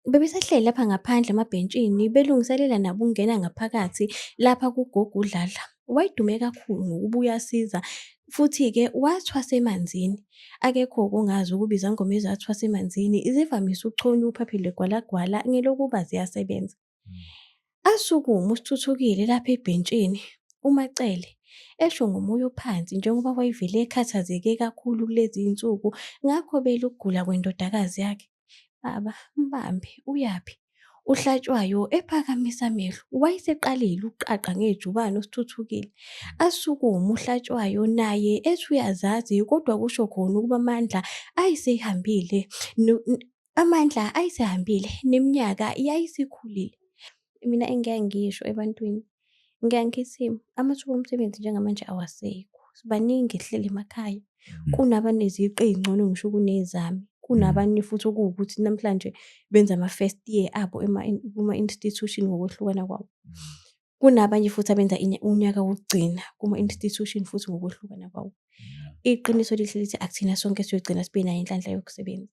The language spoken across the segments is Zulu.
Bebesahleli lapha ngaphandle emabhentshini belungiselela nabo ukungena ngaphakathi lapha kugogo uDladla. Wayedume kakhulu ngokuba uyasiza futhi-ke wathwasa emanzini. Akekho okungazi ukuba izangoma ezathwasa emanzini zivamise ukuchonywa uphaphe lwegwalagwala ngelokuba ziyasebenza. Hmm. Asukuma uSithuthukile lapha ebhentshini uMacele esho ngomoya ophansi njengoba wayevele ekhathazeke kakhulu kulezi zinsuku ngakho belukugula kwendodakazi yakhe. Baba, mbambe, uyaphi? UHlatshwayo ephakamisa amehlo. Wayeseqalile ukuqaqa ngejubane uSithuthukile. Asukume uHlatshwayo naye ethi uyazazi kodwa kusho khona ukuba amandla ayesehambile. Amandla ayesehambile neminyaka yayisikhulile. Mina engeke ngisho ebantwini. Ngiyake ngithi amathuba omsebenzi njengamanje awasekho. Sibaningi esihleli emakhaya. Mhm. Kunabaneziqu ey'ngcono ngisho kunezami. Kunabanye futhi okuwukuthi namhlanje benza ama-first year abo ema- kuma-institution ngokwehlukana kwawo. Kunabanye futhi abenza inya- unyaka wokugcina kuma-institution futhi ngokwehlukana kwawo. Iqiniso lihle lithi akuthina sonke esiyogcina sibe nayo inhlanhla yokusebenza.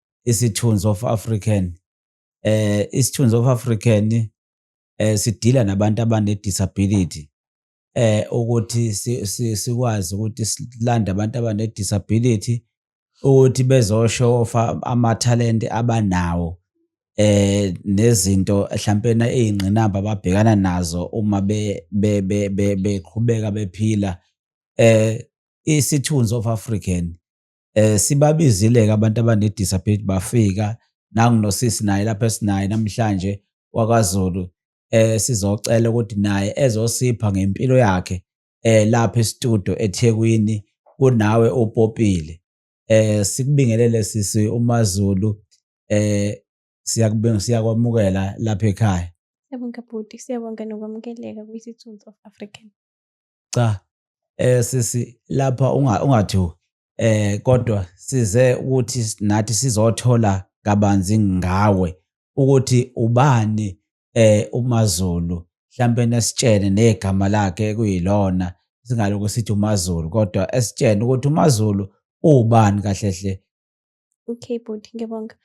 isithunzi of African eh isithunzi of African eh sidila nabantu abane disability eh ukuthi sikwazi ukuthi silande abantu abane disability ukuthi bezosho amathalente abanawo eh nezinto mhlawumpena ezingqinamba ababhekana nazo uma be beqhubeka bephila eh isithunzi of African eh sibabizile ke abantu abane disability bafika nangu nosisi naye lapha esinaye namhlanje wakwaZulu eh sizocela ukuthi naye ezosipha ngempilo yakhe eh lapha estudio eThekwini kunawe upopile eh sikubingelele sisi uMaZulu eh siyakubinga siyakwamukela lapha ekhaya Siyabonga bhuti, siyabonga nokwamukeleka kwiSithunzi of African. cha eh sisi lapha ungathi eh kodwa size ukuthi nathi sizothola kabanzi ngawe ukuthi ubani eh uMaZulu mhlambe nesitshene negama lakhe kuyilona singaloku sithi uMaZulu kodwa esitshene ukuthi uMaZulu ubani kahle hle Okay bhuti ngiyabonga.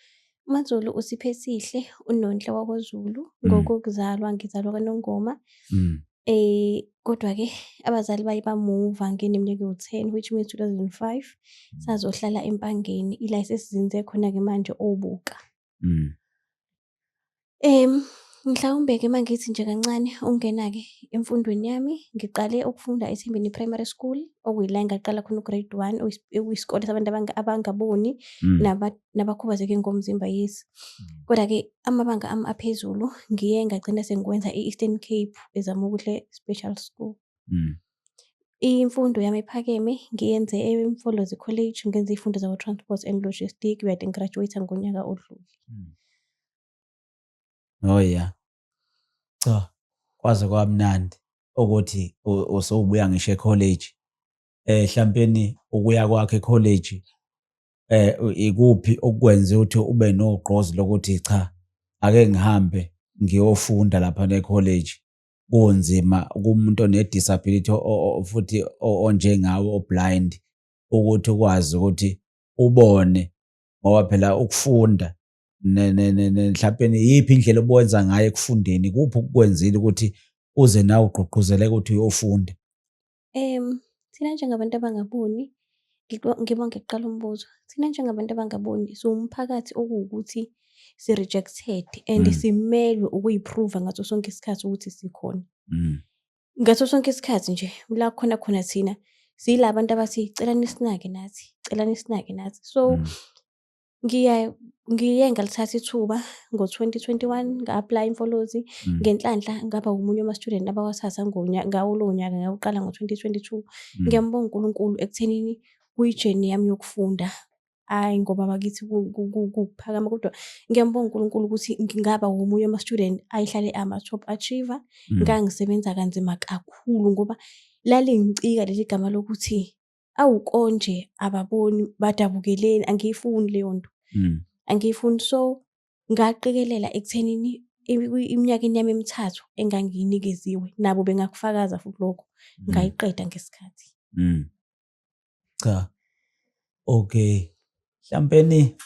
MaZulu usiphe sihle uNonhle wakoZulu mm. ngokokuzalwa ngizalwa kaNongoma. Mm. Eh kodwa ke abazali baye bamuva ngene mnyaka u-10 which means 2005 mm. sazohlala eMpangeni ila sesizinze khona ke manje obuka. Mm. Em mhlawumbe ke mangithi nje kancane ungena ke emfundweni yami ngiqale ukufunda eThembeni Primary School okuyila ngaqala khona ugrade 1 okuyisikole sabantu abangaboni mm. nabakhubazeke ngomzimba yes mm. kodwa ke amabanga ami aphezulu ngiye ngagcina sengikwenza e-Eastern Cape eZamukuhle Special School mm. imfundo yami ephakeme ngiyenze emfolozi college ngenza iy'fundo zakwa-transport and logistic uyade ngigraduate ngonyaka odlule mm. oh ya cha kwaze kwamnandi ukuthi usowubuya ngisho ekholeji um eh, hlampeni ukuya kwakhe ekholeji eh ikuphi okwenze ukuthi ube nogqozi lokuthi cha ake ngihambe ngiyofunda lapha necollege kunzima kumuntu onedisability futhi onjengawe oblind ukuthi ukwazi ukuthi ubone ngoba phela ukufunda mhlawumpe iyiphi indlela obuwenza ngayo ekufundeni kuphi ukukwenzile ukuthi uze nawe ugqugquzeleke ukuthi uyofunda Thina njengabantu abangaboni, ngibonge kuqala umbuzo. Thina njengabantu abangaboni siwumphakathi okuwukuthi si-rejected and mm. simelwe ukuyi-prove-a ngaso sonke isikhathi ukuthi sikhona. Mm. Ngaso sonke isikhathi nje la khona khona thina siyila bantu abathi celani sinake nathi, celani sinake nathi. So mm. Ngiye ngiye ngalithatha ithuba ngo-2021 nga-aplaya imfolozi mm. ngenhlanhla ngaba wumunye wama-student abawathatha ngawo lowo nyaka ngawuqala ngo-2022 mm. ngiyambonga unkulunkulu ekuthenini kuyijeni yami yokufunda hhayi ngoba bakithi kuphakama kodwa ngiyambonga unkulunkulu ukuthi ngingaba womunye wama-student ayehlale ama-top achiever mm. ngangisebenza kanzima kakhulu ngoba lalingicika leli gama lokuthi awu konje ababoni badabukeleni angiyifuni leyo nto mm. angiyifuni so ngaqikelela ekuthenini iminyakeni yami emithathu engangiyinikeziwe nabo bengakufakaza futhi lokho mm. ngayiqeda ngesikhathi mm. cha okay hlampeni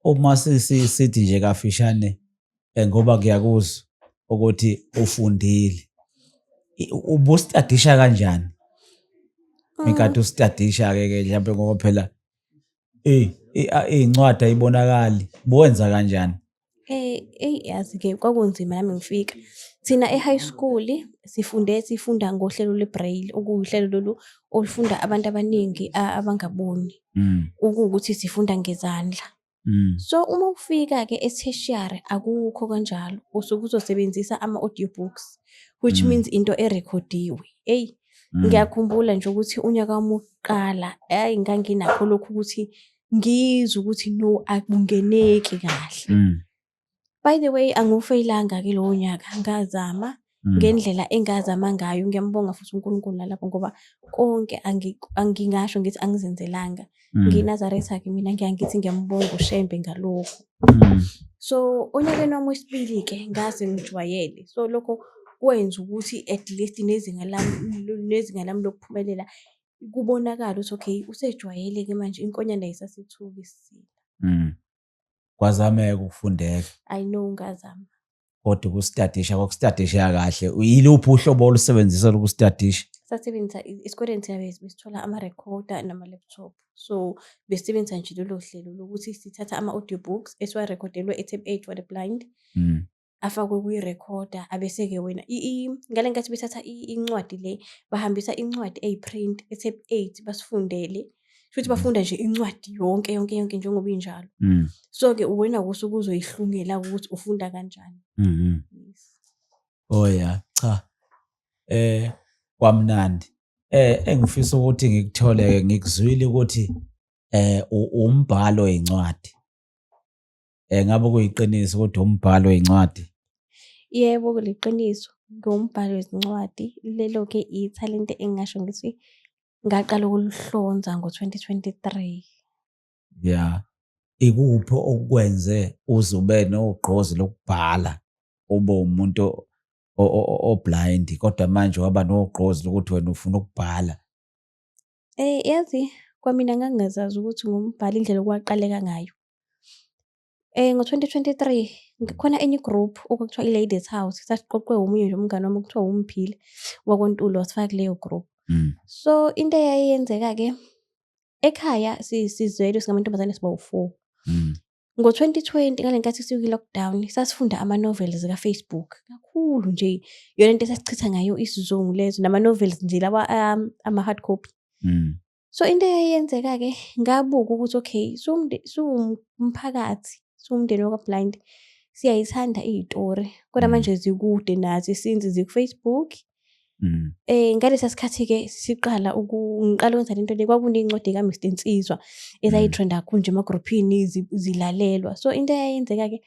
uma sithi nje kafishane eh, ngoba ngiyakuzwa ukuthi ufundile ubustadisha kanjani ah. ngikade usitadisha ke ke mhlawumbe ngoba phela iy'ncwadi ayibonakali buwenza kanjani Eh, eyi yazi-ke kwakunzima nami ngifika. Thina e-high school sifunde sifunda ngohlelo lwe-braille, okuwuhlelo lolu olufunda abantu abaningi abangaboni, mm. ukuwukuthi sifunda ngezandla. Mm. So uma ufika-ke e-tertiary akukho kanjalo, usuke uzosebenzisa ama-audio books which mm. means into erekhodiwe. Eyi, ngiyakhumbula nje ukuthi unyaka wami wokuqala, hhayi nganginakho lokhu ukuthi ngizwe ukuthi no akungeneki kahle mm. by the way angufeyilanga ke lowo nyaka ngazama mm. ngendlela engazama ngayo ngiyambonga futhi uNkulunkulu nalapho ngoba konke angingasho ngithi angizenzelanga mm. nginazareth akhe mina ngiyangithi ngiyambonga ushembe ngalokho mm. so onyakeni wami wesibili ke ngaze ngijwayele so lokho kwenza ukuthi at least nezinga lami nezinga lami lokuphumelela kubonakala ukuthi okay usejwayeleke manje inkonyane ayisasethuki sisile mm. kwazameka ukufundeka i know ngazama kodwa ukustadisha kwakustadisha kahle yiluphi uhlobo olusebenzisa lokustadisha sasebenzisa esikoleni thina besithola ama-recorder nama-laptop so besisebenzisa nje lolo hlelo lokuthi sithatha ama-audio books esiwarekhodelwe e-tape eight for the blind mm. afakwe kwi-recorder abese-ke wena ngale nkathi bethatha incwadi le bahambisa incwadi eyi-print ethe eight basifundele futhi mm. bafunda nje incwadi yonke yonke yonke njengoba injalo mm. so-ke uwena kusuke uzoyihlungela ukuthi ufunda kanjani mm-hmm. oh ya cha eh kwamnandi eh engifisa ukuthi ngikuthole ngikuzwile ukuthi eh umbhalo incwadi um ngabe kuyiqiniso kodwa umbhalo wencwadi yebo kuliqiniso ngiwumbhalo wezincwadi lelo-ke ithalente engingasho ngithi ngaqala ukuluhlonza ngo-twenty twenty-three ya ikuphi okwenze uze ube nogqozi lokubhala ube umuntu oblind kodwa manje waba nogqozi lokuthi wena ufuna ukubhala Yazi kwamina ngangingazazi ukuthi ngumbhali indlela okwaqaleka ngayo. Ngo-twenty twenty-three kukhona enye i-group okwakuthiwa i-Ladies House, sasiqoqwe omunye nje umngani wami okuthiwa uMphile waKwaNtuli wasifaka kuleyo group. So into eyayenzeka-ke ekhaya sizwelo singamantombazane sibawu-four. Ngo-2020 ngale nkathi sikwi-lockdown sasifunda ama-novels ka-Facebook kakhulu nje. Iyona nto esasichitha ngayo isizungu lezo nama-novels nje lawa um, ama-hard copy. Mm. So into eyayenzeka-ke ngabuka ukuthi okay siwumphakathi siwumndeni wakaBlind siyayithanda iy'tori kodwa mm. manje zikude nathi since ziku-Facebook Mm. Eh ngalesa sikhathi ke siqala ukungiqala ukwenza lento le kwakunencwadi ka Mr Nsizwa ezayitrenda mm. kunje emagroupini zilalelwa so into eyayenzeka ke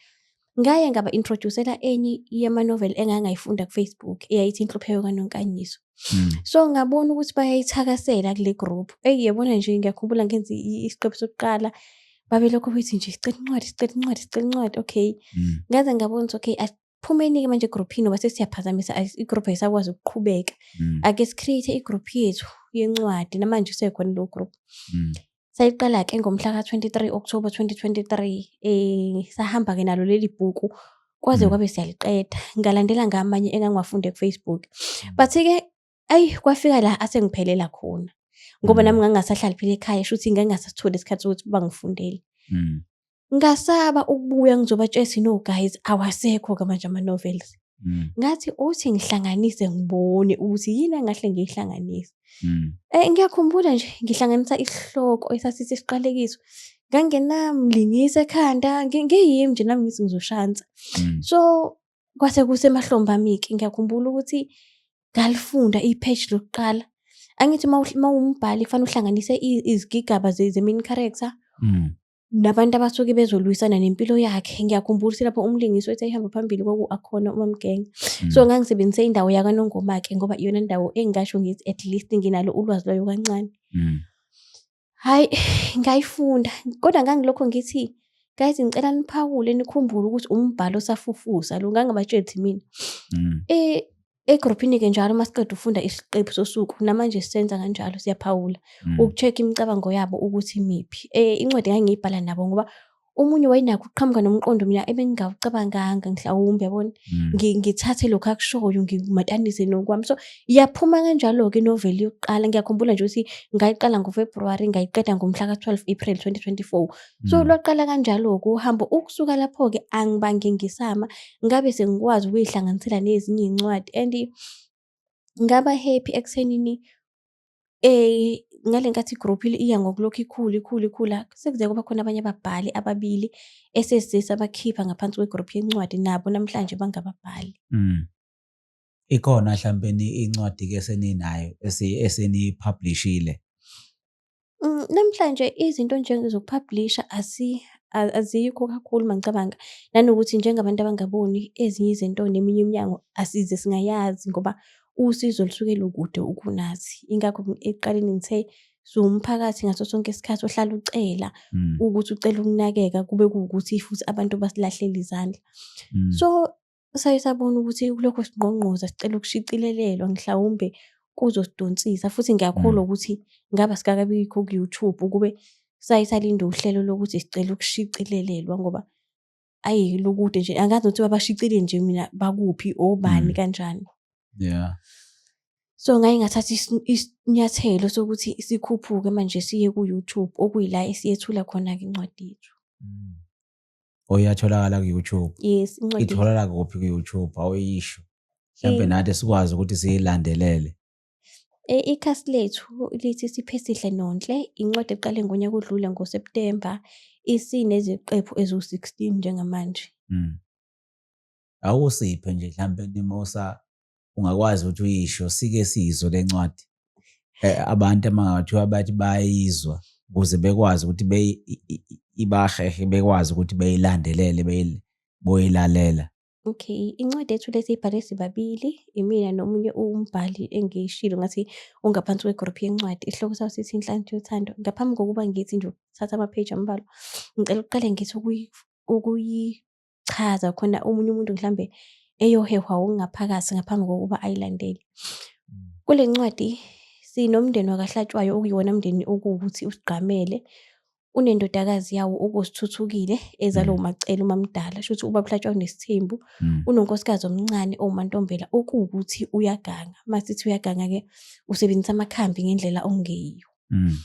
ngaye ngaba introducela enye yema novel engangayifunda ku Facebook eyayithi inhlupheko kanonkanyiso mm. so ngabona ukuthi bayayithakasela kule group hey yabona nje ngiyakhumbula ngenza isiqephu sokuqala babelokhu bethi nje sicela incwadi sicela incwadi sicela incwadi okay ngaze ngabona ukuthi okay phumeni-ke manje egruphini ngoba sesiyaphazamisa igroup ayisakwazi ukuqhubeka mm. ake sicreate igroup yethu yencwadi namanje usekhona leyo group mm. sayiqala-ke ngomhla ka-23 october 2023 um eh, sahamba-ke nalo leli bhuku kwaze mm. kwabe siyaliqeda ngalandela ngamanye engangiwafunde kufacebook but-ke ayi kwafika la asengiphelela khona ngoba nami ngangingasahlali phela ekhaya sho ukuthi ngangingasatholi isikhathi sokuthi bangifundele ngasaba ukubuya ngizobatshela sino guys awasekho-ke manje ama-novels Mm. ngathi uthi ngihlanganise ngibone ukuthi yini engahle ngiyihlanganise mm. eh ngiyakhumbula nje ngihlanganisa isihloko esasithi siqalekiso ngangenamlingisa ekhanda ngiyimi nje nami ngithi ngizoshansa mm. so kwase kusemahlombe ami-ke ngiyakhumbula ukuthi ngalifunda i-page lokuqala angithi uma umbhali kufanele uhlanganise izigigaba ze-main character mm. nabantu abasuke bezolwisana nempilo yakhe ngiyakhumbula ukuthi lapho umlingisi wethu ehamba phambili kwaku-akhona umamgenge mm. so ngangisebenzise indawo yakanongoma-ke ngoba iyona ndawo engingasho ngithi at least nginalo ulwazi lwayo kancane mm. Hhayi ngayifunda kodwa ngangilokho ngithi, guys ngicela niphawule nikhumbule ukuthi umbhalo osafufusa lo ngangibatsheli ukuthi mina. Mm. Eh, egruphini-ke njalo uma siqeda ukufunda isiqephu sosuku namanje sisenza kanjalo siyaphawula Mm. uku-check imicabango yabo ukuthi imiphi. Eh, incwadi ngangiyibhala nabo ngoba omunye wayenakho ukuqhamuka nomqondo mina ebengingawucabanganga mhlawumbe yabona mm. ngithathe lokhu akushoyo ngimatanise nokwami so iyaphuma kanjalo-ke inoveli yokuqala ngiyakhumbula nje ukuthi ngayiqala ngofebruwari ngayiqeda ngomhla ka-12 april 2024 so mm. lwaqala kanjalo-ke uhambo ukusuka lapho-ke angibange ngisama ngabe sengikwazi ukuyihlanganisela nezinye iy'ncwadi and ngaba happy ekuthenini ngale nkathi i-group iya ngokulokhu ikhula, ikhula, ikhula, sekuze kuba khona abanye ababhali ababili esesesabakhipha ngaphansi kwe-group yencwadi, nabo namhlanje bangababhali. Mm. Ikhona hlawumpeni incwadi-ke eseninayo eseniyipublishile? Mm, namhlanje izinto njengezokuphabhulisha azikho kakhulu uma ngicabanga, nanokuthi njengabantu abangaboni ezinye izinto neminye iminyango asize singayazi ngoba usizo lusuke lukude ukunathi. Ingakho ekuqaleni ngithe siwumphakathi ngaso sonke isikhathi ohlala ucela mm. ukuthi ucela ukunakeka kube kuwukuthi futhi abantu basilahlele izandla. Mm. So Saye sabona ukuthi kulokho singqongqoza sicela ukushicilelelwa mhlawumbe kuzosidonsisa futhi ngiyakholwa mm. ukuthi ngaba sikakabikho ku-YouTube ukube saye salinde uhlelo lokuthi sicela ukushicilelelwa ngoba ayi lukude nje angazi ukuthi babashicile nje mina bakuphi obani mm. kanjani yeah so ngaye ngathatha isinyathelo sokuthi sikhuphuke manje siye ku-YouTube okuyila esiyethula khona-ke incwadi yethu mm. oyatholakala ku-youtube yes incwadi itholakala kuphi ku-youtube awuyisho mhlawumbe nathi sikwazi ukuthi siyilandelele E, ikhasi lethu lithi Siphesihle Nonhle, incwadi eqale ngonyaka odlule ngoSeptemba, isineziqephu eziwu-16 njengamanje. Mm. Awusiphe nje mhlampe nimosa ungakwazi ukuthi uyisho sike siyizwe le ncwadi eh, abantu amangathiwa bathi bayizwa ukuze bekwazi ukuthi ibahehe bekwazi ukuthi beyilandelele boyilalela okay incwadi ethu lesi ibhale sibabili imina nomunye umbhali engiyishilo ngathi ungaphansi kwegroup yencwadi isihloko sawo sithi inhlanhla yothando ngaphambi kokuba ngithi nje ukuthatha amapheji ambalwa ngicela ukuqale ngithi ukuyi ukuchaza khona omunye umuntu mhlambe eyohehwa ukungaphakathi ngaphambi kokuba ayilandele. Mm. Kule ncwadi sinomndeni wakaHlatshwayo okuyona mndeni okuwukuthi usigqamele unendodakazi yawo okuzithuthukile ezalo mm. umacela umamdala shuthi uba kuhlatshwa unesithembu mm. unonkosikazi omncane owumantombela okuwukuthi uyaganga masithi uyaganga ke usebenzisa amakhambi ngendlela ongeyiyo mm.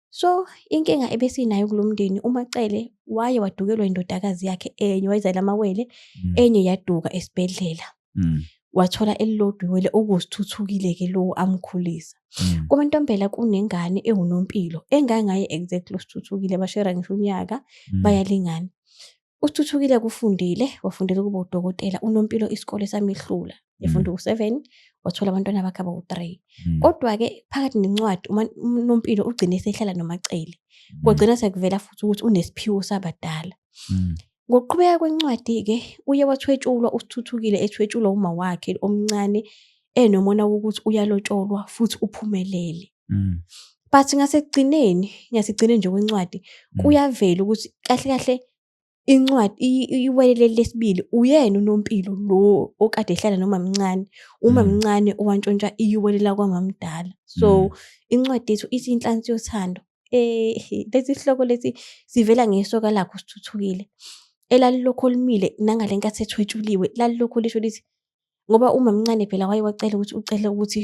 So inkinga ebesinayo kulo mndeni uMacele waye wadukelwa indodakazi yakhe enye wayizala amawele mm. enye yaduka esibhedlela. Mm. Wathola elilodwa iwele okuzithuthukile ke lowo amkhulisa. Mm. Kuma ntombela kunengane ewunompilo engangaye exactly osithuthukile bashera ngisho unyaka bayalingana. Uthuthukile kufundile wafundela ukuba udokotela unompilo isikole samehlula efunda mm. uku-seven wathola abantwana bakhe abawu-three mm. kodwa-ke phakathi nencwadi unompilo ugcine esehlala nomacele mm. kwagcina sekuvela futhi ukuthi unesiphiwo sabadala ngokuqhubeka kwencwadi-ke uye wathwetshulwa usithuthukile ethwetshulwa uma wakhe omncane enomona wokuthi uyalotsholwa futhi uphumelele mm. but ngasekugcineni ngasekugcineni nje kwencwadi mm. kuyavela ukuthi kahle kahle incwadi iwelele lesibili uyena unompilo lo okade ehlala noma mncane uma mm. mncane owantshontsha iyiwelela kwamamdala so mm. incwadi yethu ithi inhlansi yothando eh lesi sihloko lesi sivela ngesoka lakho sithuthukile elalilokho limile nangale nkathi ethwetshuliwe lalilokho lisho lithi ngoba uma mncane phela waye wacela ukuthi ucele ukuthi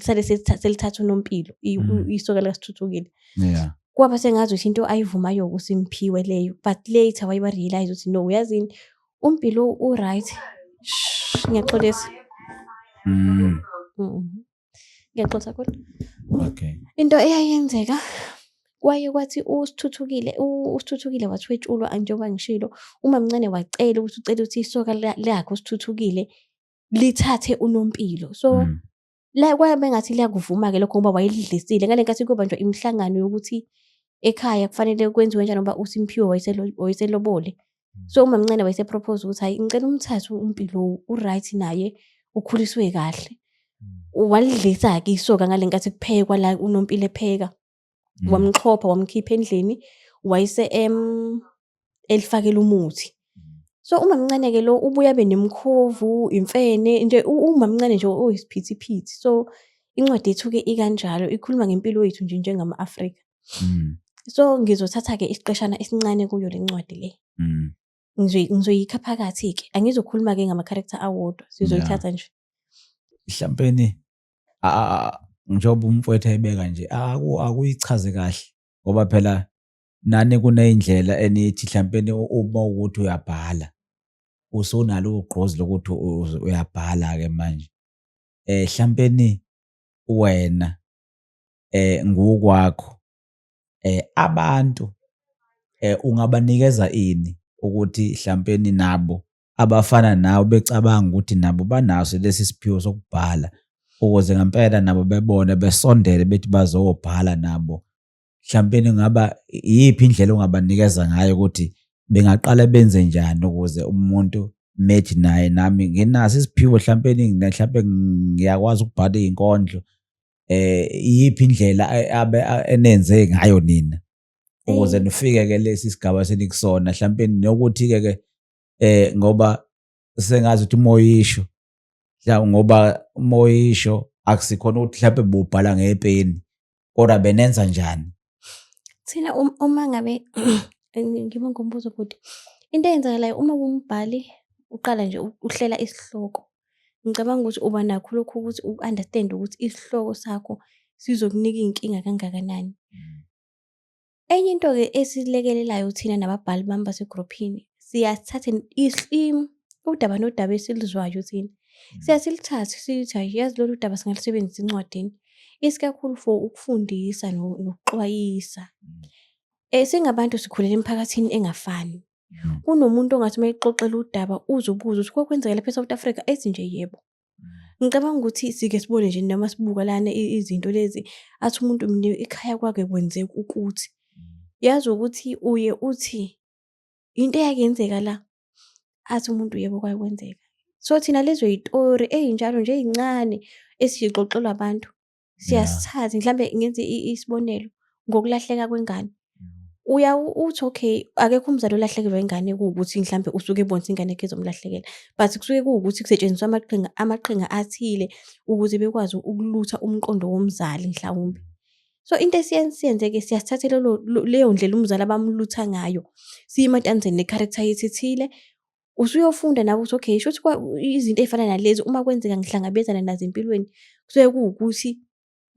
sale selithatha unompilo mm. isoka likasithuthukile yeah kwaba sengazi ukuthi into ayivumayo kusimphiwe leyo but later waye warealize ukuthi no uyazini umpilo u-right ngiyaxolisa mm. mm. ngiyaxolisa kodwa okay into eyayenzeka kwaye kwathi usithuthukile usithuthukile wathwetshulwa njengoba ngishilo uma mncane wacela ukuthi ucela ukuthi isoka lakhe usithuthukile lithathe unompilo so mm. la kwabe ngathi liyakuvuma ke lokho ngoba wayelidlisile ngale nkathi kuba nje imihlangano yokuthi ekhaya kufanele kwenziwe njani ngoba uSimphiwe wayeselobole mm. so umamncane wayesepropose ukuthi hayi ngicela umthathe umpilo uright naye ukhuliswe kahle mm. walidlisa-ke isoka ngale nkathi kuphekwa la unompilo epheka Mm. wamxhopha wamkhipha endlini wayise em elifakela umuthi mm. so umamncane ke lo ubuya benemkhovu imfene nje umamncane nje oyisiphithiphithi so incwadi yethu ke ikanjalo ikhuluma ngempilo yethu nje njengama Afrika mm. so ngizothatha ke isiqeshana esincane kuyo lencwadi le ngizoyikha phakathi ke angizokhuluma ke ngama character awodwa sizoyithatha nje mhlawumbe njengoba umfowethu ayibeka nje akuyichaze kahle ngoba phela nani kuney'ndlela enithi hlawumpeni uma ukuthi uyabhala usunalo ugqozi lokuthi uyabhala-ke manje um hlawumpeni wena um ngukwakho um abantu um ungabanikeza ini ukuthi hlawumpeni nabo abafana nawe becabanga ukuthi nabo banaso lesi siphiwo sokubhala ukuze ngempela nabo bebone besondele bethi bazobhala nabo mhlawumbe ngaba iyiphi indlela ongabanikeza ngayo ukuthi bengaqala benze njani ukuze umuntu methi naye nami nginaso isiphiwo mhlawumbe mhlawumbe ngiyakwazi ukubhala izinkondlo eh iyiphi indlela abe enenze ngayo nina ukuze nifike ke lesi sigaba senikusona mhlawumbe nokuthi ke ke eh ngoba sengazi ukuthi umoya isho mhlawumbe ngoba umoya isho akusikhona ukuthi mhlawumbe bubhala ngepeni kodwa benenza njani thina um-, uma ngabe ngiba ngombuzo bhuti into eyenzakalayo uma kumbhali uqala nje uhlela isihloko ngicabanga ukuthi uba nakho lokhu ukuthi u-understand ukuthi isihloko sakho sizokunika iy'nkinga kangakanani. Enye into-ke esilekelelayo thina nababhali bami basegruphini, siyasithatha udaba nodaba esiluzwayo thina. Mm. Siya silithathe sithi hhayi yazi lolu daba singalusebenzisa encwadini, isikakhulu for ukufundisa nokuxwayisa. Mm. Eh, singabantu sikhulela emiphakathini engafani. Mm. Kunomuntu ongathi uma exoxela udaba uze ubuze ukuthi kokwenzeka lapha e-South Africa, ethi nje yebo. ngicabanga ukuthi sike sibone nje noma sibuka lana izinto lezi athi umuntu mnike ikhaya kwakhe kwenzeka ukuthi yazi ukuthi uye uthi into eyakenzeka la athi umuntu yebo kwaye kwenzeka so thina lezo yitori eyinjalo nje eyincane esiyixoxelwa abantu siyasithatha mhlambe ngenze isibonelo ngokulahleka kwengane mm. uya uthi okay akekho umzali olahlekelwa ingane kuwukuthi mhlambe usuke ebonisa ingane yakhe ezomlahlekela but kusuke kuwukuthi kusetshenziswa amaqhinga amaqhinga athile ukuze bekwazi ukulutha umqondo womzali mhlawumbe so into esiyenzeke siyasithathe leyo ndlela umzali abamlutha ngayo siyimatanzeni ne-character yethu ethile usuyofunda nawe ukuthi okay shuthi izinto ey'fana nalezi uma kwenzeka ngihlangabezana nazo empilweni kusuke kuwukuthi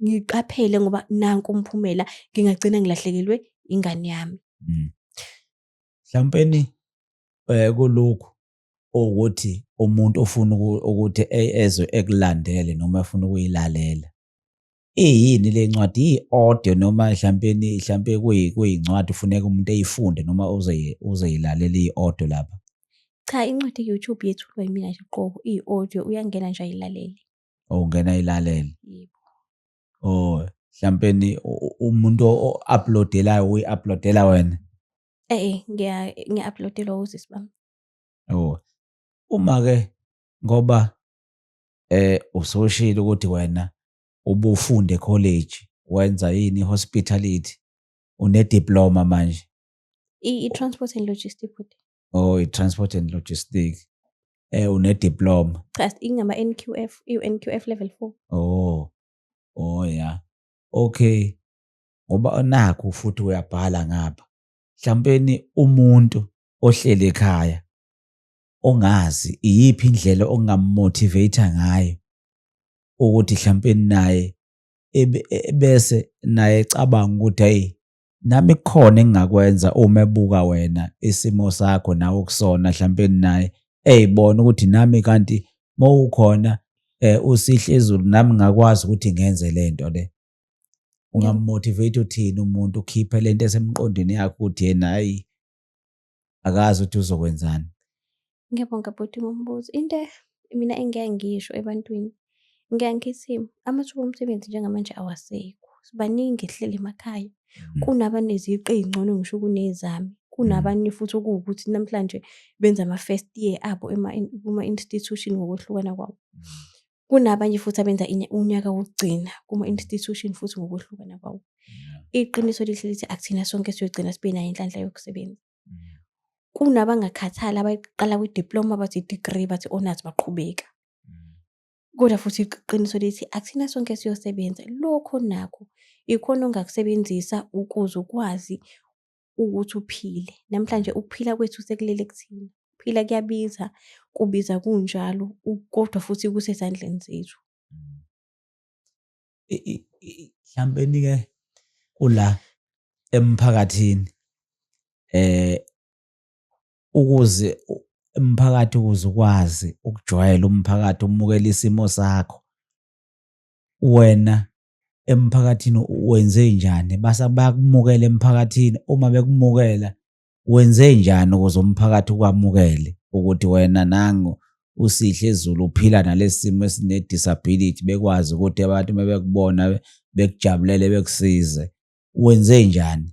ngiqaphele ngoba nanku umphumela ngingagcina ngilahlekelwe ingane yami hmm. mhlampeni um eh, kulokhu ukuthi umuntu ofuna ukuthi e-, ezwe ekulandele noma efuna ukuyilalela iyini le ncwadi iyi-audio noma hlampeni hlampe kuyincwadi ufuneka umuntu eyifunde noma uzoyilalela iyi-audio lapha cha incwadi youtube yethulwa yimina nje qobo iyi-audio uyangena nje ayilalele oh ungena ayilalele yebo oh hlampeni umuntu o-uploadelayo uyi-uploadela wena e-e ngiya-uploadelwa usisi bami oh uma-ke ngoba eh usoshilo ukuthi wena ubufunde college wenza yini hospitality une diploma manje i transport and logistics futhi oh i transport and logistics eh une diploma cha ingama NQF i NQF level 4 oh oh yeah okay ngoba nakho futhi uyabhala ngapha mhlawumpeni umuntu ohleli ekhaya ongazi iyiphi indlela ongamotivate ngayo ukuthi mhlawumbe naye e, bese naye ecabanga ukuthi hey nami kukhona engingakwenza uma ebuka wena isimo sakho nawe okusona mhlawumbe naye eyibona ukuthi nami kanti mawukhona eh usihle izulu nami ngakwazi ukuthi ngenze lento le ungamotivate uthini umuntu ukhiphe lento esemqondweni yakhe ukuthi yena hayi akazi ukuthi uzokwenzani ngiyabonga bhuti ngombuzo into mina engike ngisho ebantwini ngike ngithi amathuba omsebenzi njengamanje awasekho sibaningi ehleli emakhaya mm. kunabaneziqu ey'ngcono ngisho kunezami mm. kunabanye futhi okuwukuthi namhlanje benza ama-first year abo kuma-institution ngokwehlukana kwawo mm. kunabanye futhi abenza unyaka wokugcina kuma-institution futhi ngokwehlukana kwawo iqiniso lihle lithi akuthina sonke siyogcina sibe nayo inhlanhla yokusebenza kunabangakhathala abayiqala kwi-diploma bathi i-degree bathi honors baqhubeka kodwa futhi iqiniso lithi akuthina sonke siyosebenza lokho nakho ikhona ongakusebenzisa ukuze ukwazi ukuthi uphile. Namhlanje ukuphila kwethu sekulele kuthina. Ukuphila kuyabiza, kubiza kunjalo kodwa futhi kusezandleni zethu. Mhlawumbe-ke kula emphakathini eh ukuze umphakathi ukuze ukwazi ukujwayela umphakathi umukela isimo sakho wena emphakathini wenze njani basa bayakumukela emphakathini uma bekumukela wenze njani ukuze umphakathi ukwamukele ukuthi wena nangu usihle ezulu uphila nalesi simo esine-disability bekwazi ukuthi abantu uma bekubona bekujabulele bekusize wenze njani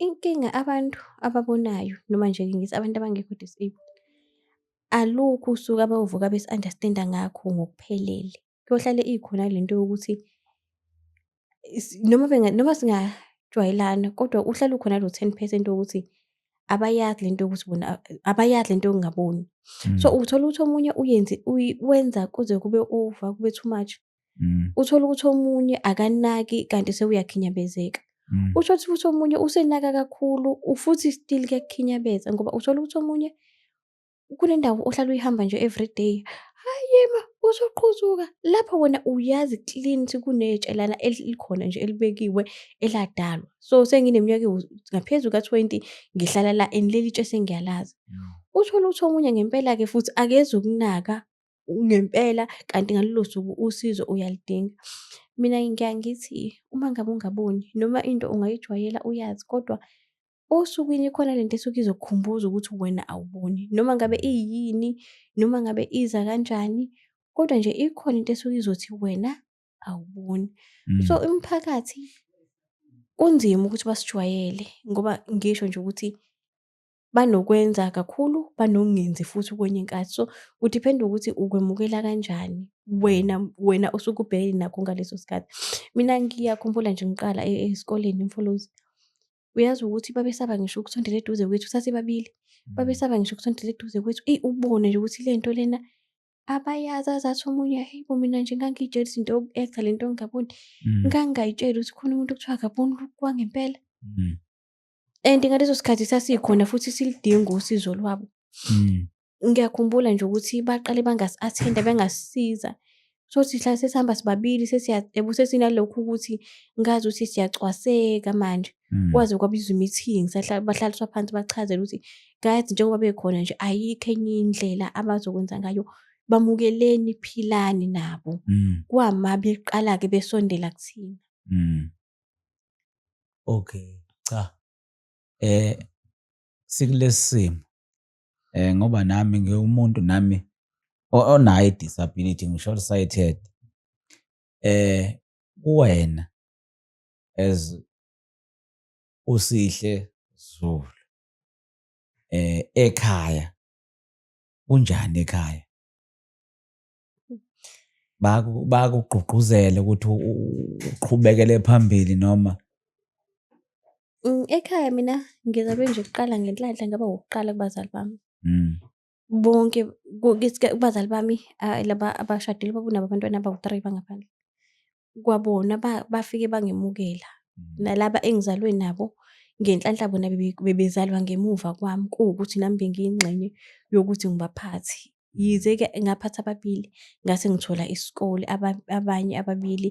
Inkinga abantu ababonayo noma nje ngithi abantu abangekho disabled, alukho usuku abayovuka besi-understand-a ngakho ngokuphelele. Kuyohlale ikhona le nto yokuthi noma noma singajwayelana kodwa uhlale ukhona lo ten percent wokuthi abayazi le nto yokuthi bona abayazi le nto yokungaboni. So, uthola ukuthi omunye uyenze wenza kuze kube over, kube too much. mm. uthole ukuthi omunye akanaki kanti sewuyakhinyabezeka mm. usho ukuthi futhi omunye usenaka kakhulu futhi still kuyakukhinyabeza ngoba uthole ukuthi omunye kunendawo ohlala uyihamba nje everyday hayi ma uzoqhuzuka lapho wena uyazi clean ukuthi kunetshelana elikhona nje elibekiwe eladalwa so sengineminyaka ngaphezulu ka-twenty ngihlala la and leli tshe sengiyalazi uthole ukuthi omunye ngempela-ke futhi akezi ukunaka ngempela kanti ngalolo suku usizo uyalidinga. Mina ngiyaye ngithi uma ngabe ungaboni noma into ungayijwayela uyazi kodwa osukwini ikhona lento esuke izokukhumbuza ukuthi wena awuboni noma ngabe iyini noma ngabe iza kanjani kodwa nje ikhona into esuke izothi wena awuboni. Mm. So imiphakathi kunzima ukuthi basijwayele ngoba ngisho nje ukuthi banokwenza kakhulu, banokungenzi futhi kwenye inkathi. So, ku-depend-a ukuthi ukwemukela kanjani wena wena osuke ubhekene nakho ngaleso sikhathi. Mina ngiyakhumbula nje ngiqala e-, esikoleni eMfolozi, uyazi ukuthi babesaba ngisho ukusondela eduze kwethu, sasibabili. Mm. Babesaba ngisho ukusondela eduze kwethu. Eyi, ubone nje ukuthi le nto lena abayazi azathi omunye hheyi bo mina nje ngangiyitshela izinto yoku-act-a le nto ngingaboni. Mm. Ngangingayitsheli ukuthi khona umuntu okuthiwa akaboni kwangempela. Mm. and ngaleso sikhathi sasikhona futhi silidinga usizo lwabo mm. ngiyakhumbula nje ukuthi baqale bangasi-athenda bengasisiza so sihla sesihamba sibabili sesinalokhu ukuthi ngazi ukuthi siyacwaseka manje mm. kwaze kwabizwa i-meeting bahlaliswa phansi bachazela ukuthi guys njengoba bekhona nje ayikho enye indlela abazokwenza ngayo bamukeleni philani nabo mm. kwama beqala-ke besondela kuthina mm. Okay, cha. Eh sikulesimo. Eh ngoba nami ngiwumuntu nami onayo disability ngisho sighted. Eh kuwena as usihle Zulu. Eh ekhaya kunjani ekhaya? bakugqugquzele ukuthi uqhubekele phambili noma mm, ekhaya mina ngizabe nje kuqala ngenhlanhla ngaba wokuqala kubazali bami mm. bonke kubazali bami laba abashadile babunabo abantwana abawu-three bangaphandle kwabona bafike bangemukela mm. nalaba engizalwe nabo ngenhlanhla bona bebezalwa ngemuva kwami kuwukuthi nami bengiyingxenye yokuthi ngibaphathi mm. yize-ke ngaphatha ababili ngase ngithola isikole abanye ababili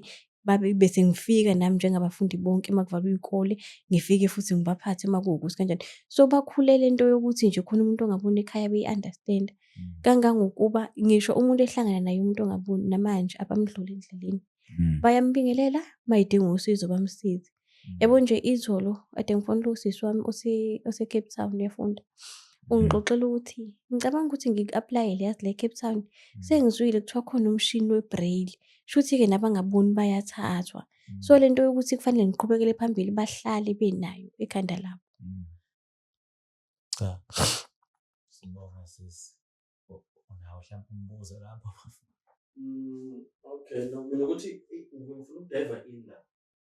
bese ngifika nami njengabafundi bonke uma kuvalwa iy'kole ngifike futhi ngibaphathe uma kuwukuthi kanjani so bakhulele into yokuthi nje khona umuntu ongabona ekhaya beyi-understand-a mm. kangangokuba ngisho umuntu ehlangana naye umuntu ongaboni namanje abamdlula endleleni mm. bayambingelela mayidinga usizo bamsize mm. yabo nje izolo ade ngifonela usisi wami osecape town uyafunda ungixoxela ukuthi ngicabanga ukuthi ngiku-aplayele yazi le cape town sengizwile kuthiwa khona umshini webraille shuthi-ke nabangaboni bayathathwa so le nto yokuthi kufanele ngiqhubekele phambili bahlale benayo ekhanda labo Cha. Sibonga sis. Unawo mhlawumbe umbuzo lapho. Mm, okay, no, mina ukuthi ngifuna ukudive in la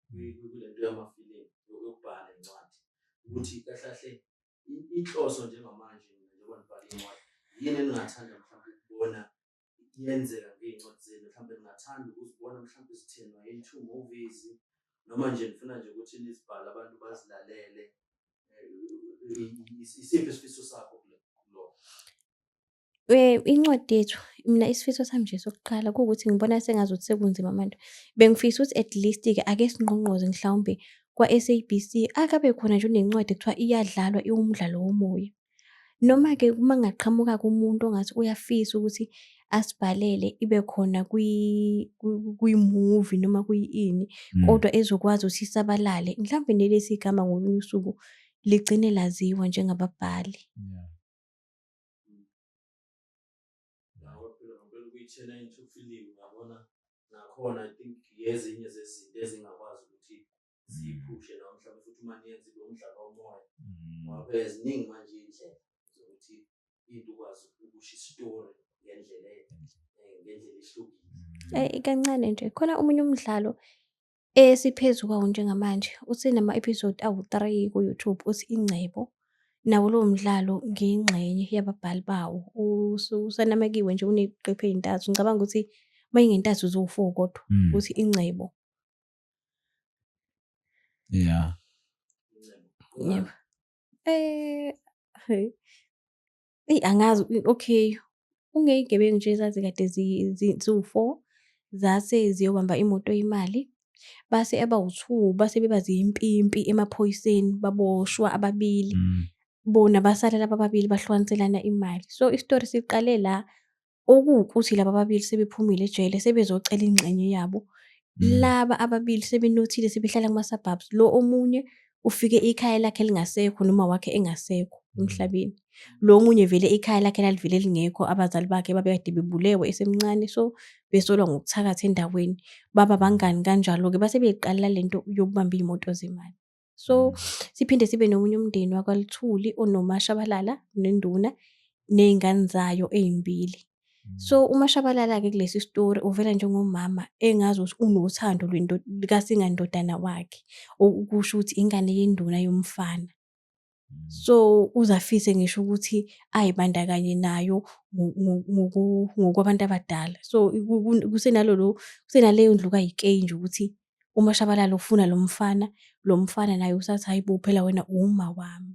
kule nto yamafilimu yokubhala incwadi ukuthi kahle kahle inhloso njengamanje njengoba nibhala incwadi yini eningathanda mhlawumbe ukubona yenzeka ngey'ncwadi zenu mhlawumbe ningathanda ukuzibona mhlawumbe zithenwa i-two movies noma nje nifuna nje ukuthi nizibhale abantu bazilalele isiphi isifiso sakho kulo Eh incwadi yethu mina isifiso sami nje sokuqala kuwukuthi ngibona sengazuthi sekunzima manje. Bengifisa ukuthi at least ke ake singqongqoze mhlawumbe kwa-SABC akabe khona nje unencwadi ekuthiwa iyadlalwa iwumdlalo womoya. Noma-ke uma kungaqhamuka kumuntu ongathi uyafisa ukuthi asibhalele ibe khona kwi-movie noma kuyini mm. kodwa ezokwazi ukuthi isabalale mhlawumbe nelesi igama ngolunye usuku ligcine laziwa njengababhali yeah. nakhona i think yezinye zezinto ezingakwazi ukuthi siyiphushe nawo mhlawumbe futhi uma niyenza ibe umdlalo womoya mm. ngoba phela ziningi manje iy'ndlela zokuthi into ukwazi ukusho isitori ngendlela eh, ngendlela ehlukile mm. eh, kancane nje khona omunye umdlalo esiphezu kwawo njengamanje usenama-episode awu-three ku-youtube uthi ingcebo nawo lowo mdlalo ngiyingxenye yababhali bawo usanamekiwe nje uneqephu ey'ntathu ngicabanga ukuthi uma ingentathu ziwu-four kodwa mm. uthi ingcebo Yeah. Yebo. Eh, hey. Eyi angazi okay, kungeyigebengu nje ezazi kade ziwu-four zase ziyobamba imoto imali base abawu-two base beba ziyimpimpi emaphoyiseni baboshwa ababili. Mm. Bona basala laba ababili bahlukaniselana imali. So isitori siqale la Okuwukuthi laba ababili sebephumile ejele sebezocela ingxenye yabo. Mm. Laba ababili sebenothile sebehlala kuma-suburbs. Lo omunye ufike ikhaya lakhe lingasekho noma wakhe engasekho mm. emhlabeni. Lo omunye vele ikhaya lakhe lalivele lingekho abazali bakhe babekade bebulewe esemncane so besolwa ngokuthakatha endaweni. Baba bangani kanjalo-ke base beyiqalela le nto yokubamba iy'moto zemali. so mm. siphinde sibe nomunye umndeni wakwaluthuli onomashabalala nenduna ney'ngane zayo ey'mbili mm. so umashabalala-ke kulesi sitori uvela njengomama engazi ukuthi unothando lwekasingandodana wakhe okusho ukuthi ingane yenduna yomfana So uZafise ngisho ukuthi ayibandakanye nayo ngokwabantu abadala. So kusenalolo kusenaleyo ndlu kaYikey nje ukuthi uMashabalala ufuna lo mfana, lo mfana naye usathi hayi bo phela wena uma wami.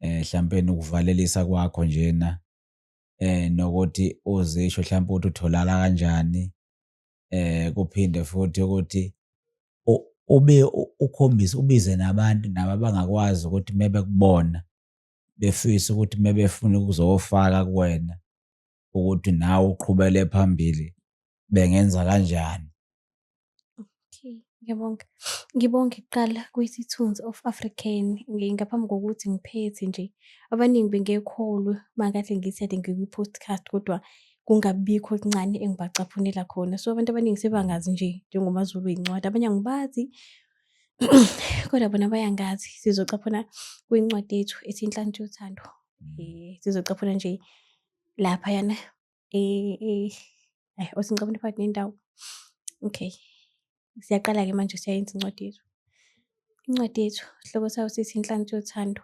eh mhlampe nokuvalelisa kwakho njena eh nokuthi uzisho mhlampe ukuthi utholala kanjani eh kuphinde futhi ukuthi ube ukhombise ubize nabantu nabo abangakwazi ukuthi mebekubona befisa ukuthi mebefuna ukuzofaka kuwena ukuthi nawe uqhubele phambili bengenza kanjani okay ngiyabonga ngibonge kuqala kwisithunzi of african ngaphambi kokuthi ngiphethe nje abaningi bengekholwe makahle ngithi ade ngikwi-podcast kodwa kungabikho okuncane engibacaphunela khona so abantu abaningi sebangazi nje njengomazulu yincwadi abanye angibazi kodwa bona bayangazi sizocaphuna kwincwadi yethu ethi inhlanhla yothando um sizocaphuna nje laphayana ayi osingcabona phakathi nendawo okay siyaqala-ke manje siyayenza incwadi yethu incwadi yethu sihloko sayo sithi inhlansi yothando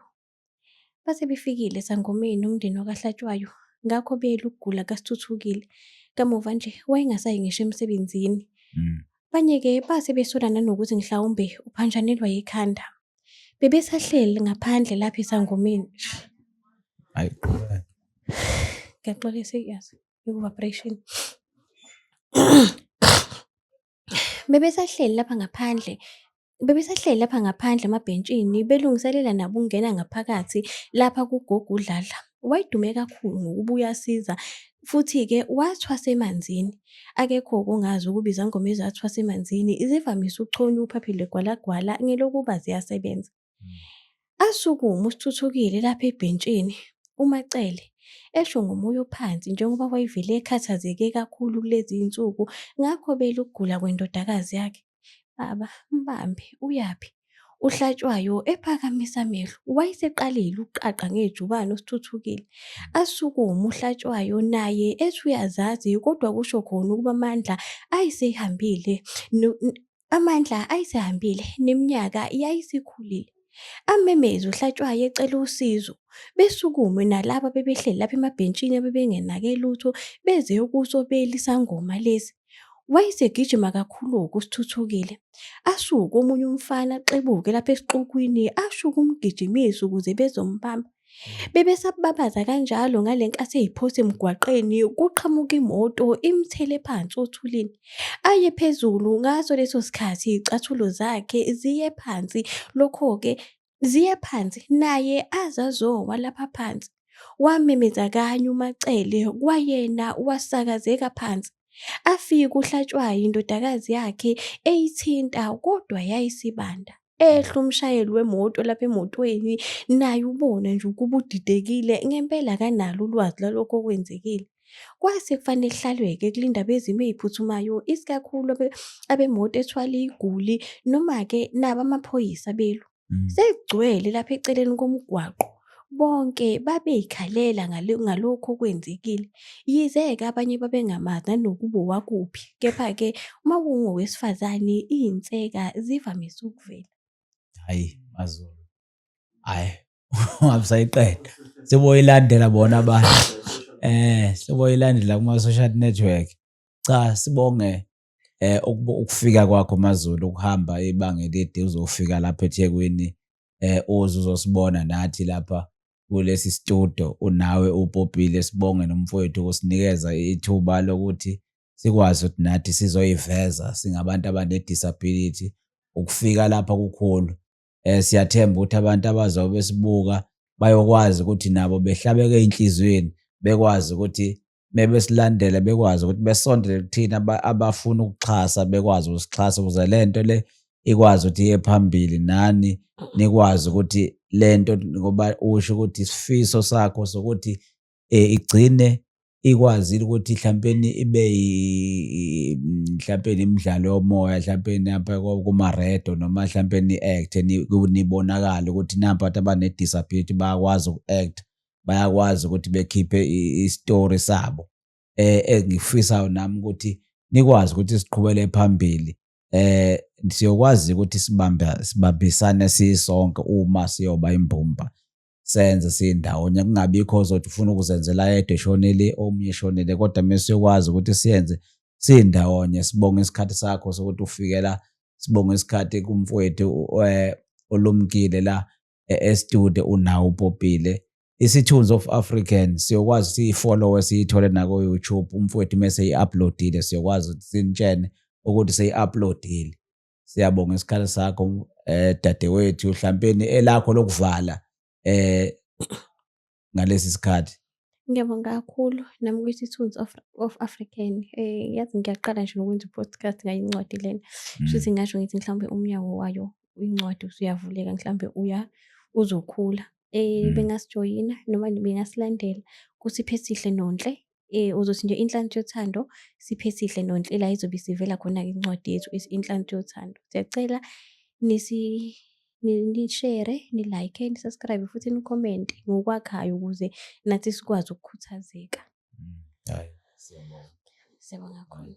base befikile sangomeni umndeni wakahlatshwayo ngakho beyela ukugula kasithuthukile kamuva nje wayengasayi ngisho emsebenzini mm. Abanye-ke base besola nanokuthi mhlawumbe uphantshanelwa yikhanda. Bebesahleli ngaphandle lapha esangomeni. Ayi qhubeka. Ngiyaxolisa yazi iku-vibration. Bebesahleli lapha ngaphandle Bebesahleli lapha ngaphandle emabhentshini belungiselela nabo ukungena ngaphakathi lapha kugogo uDladla. Wayedume kakhulu ngokuba uyasiza futhi-ke wathwasa emanzini. Akekho okungazi ukuba izangoma ezathwasa emanzini zivamise ukuchonywa uphaphi legwalagwala ngelokuba ziyasebenza. Asukuma uSithuthukile lapha ebhentshini, uMaCele, esho ngomoya ophansi njengoba wayevele ekhathazeke kakhulu kulezi iy'nsuku ngakho bela ukugula kwendodakazi yakhe. Baba, mbambe, uyaphi? UHlatshwayo ephakamisa amehlo. Wayeseqalile ukuqaqa ngejubane uSithuthukile. Asukume uHlatshwayo naye ethi uyazazi kodwa kusho khona ukuba amandla ayesehambile Amandla ayisehambile neminyaka yayisikhulile. Amemeze uHlatshwayo ecela usizo. Besukume nalaba bebehleli lapha emabhentshini abebengenake lutho beze ukusobela isangoma lesi. Wayesegijima kakhulu-ke uSithuthukile. Asuke omunye umfana axebuke lapha esixukwini asho ukumgijimisa ukuze bezombamba. Bebesababaza kanjalo ngale nkathi eyiphosa emgwaqeni kuqhamuka imoto imthele phansi othulini. Aye phezulu ngaso leso sikhathi iy'cathulo zakhe ziye phansi, lokho-ke ziye phansi naye aze azowa lapha phansi. Wamemeza kanye uMaCele kwayena wasakazeka phansi. Afike uHlatshwayo indodakazi yakhe eyithinta kodwa yayisibanda. Ehla umshayeli wemoto lapha emotweni naye ubona nje ukuba udidekile ngempela akanalo ulwazi lwalokho okwenzekile. Kwase kufanele kuhlalwe-ke kulinda abezimo ey'phuthumayo isikakhulu abemoto ethwala iy'guli noma-ke nabo amaphoyisa belu. mm. sekugcwele lapha eceleni komgwaqo bonke babeyikhalela ngalokhu okwenzekile yize-ke abanye babengamazi nanokuba owakuphi kepha-ke uma kungowesifazane iy'nseka zivamise ukuvela hhayi mazulu hhayi ungabusayiqeda seboyilandela bona abantu um seboyilandela kuma-social network cha sibonge eh ukufika kwakho maZulu ukuhamba ibanga elide uzofika lapha eThekwini eh uze uzosibona nathi lapha kulesi studio unawe upopile sibonge nomfowethu ukusinikeza ithuba lokuthi sikwazi ukuthi nathi sizoyiveza singabantu abanedisability ukufika lapha kukhulu eh siyathemba ukuthi abantu abazobe besibuka bayokwazi ukuthi nabo behlabeke enhlizweni bekwazi ukuthi mebesilandela bekwazi ukuthi besondele kuthina abafuna ukuxhasa bekwazi ukusixhasa ukuze le nto le ikwazi ukuthi iye phambili nani nikwazi ukuthi le nto ngoba usho ukuthi isifiso sakho sokuthi um igcine ikwazile ukuthi mhlawumpeni ibe mhlawumpeni imidlalo yomoya mhlawumpeni apha kumaredo noma mhlawumpeni i-act nibonakale ukuthi nampa abantu abane-disability bayakwazi uku-act bayakwazi ukuthi bekhiphe i-story sabo eh engifisayo nami ukuthi nikwazi ukuthi siqhubele phambili eh siyokwazi ukuthi sibamba sibambisane sisonke uma siyoba imbumba senze sindawonye kungabikho ozothi ufuna ukuzenzela yedwa eshonile omunye eshonile kodwa mesiyokwazi ukuthi siyenze sindawonye sibonga isikhathi sakho sokuthi ufikela sibonga isikhathi kumfowethu eh, olumkile la estude unawo upopile isithunzi of african siyokwazi ukuthi ifollowe siyithole nakoyoutube umfowethu uma seyi-uploadile siyokwazi ukuthi sinitshene ukuthi seyi-uploadile siyabonga isikhala sakho um dadewethu hlampeni elakho lokuvala um ngalesi sikhathi ngiyabonga kakhulu nami ukuthi tunes of, of african eh yazi ngiyaqala nje nokwenza i-podcast ngayo incwadi lena mm. shuthi ngasho ngithi mhlawumbe umnyango wayo incwadi usuyavuleka mhlawumbe uya uzokhula eh mm. bengasijoyina noma bengasilandela kusiphe sihle nonhle Eh uzothi nje inhlanhla yothando siphe sihle nonhlela izobe isivela khona ke incwadi yethu is inhlanhla yothando. Siyacela nisi ni- nishare, nilike, nisubscribe futhi nicomment ngokwakhayo ukuze nathi sikwazi ukukhuthazeka. Hayi, siyabonga. Siyabonga kakhulu.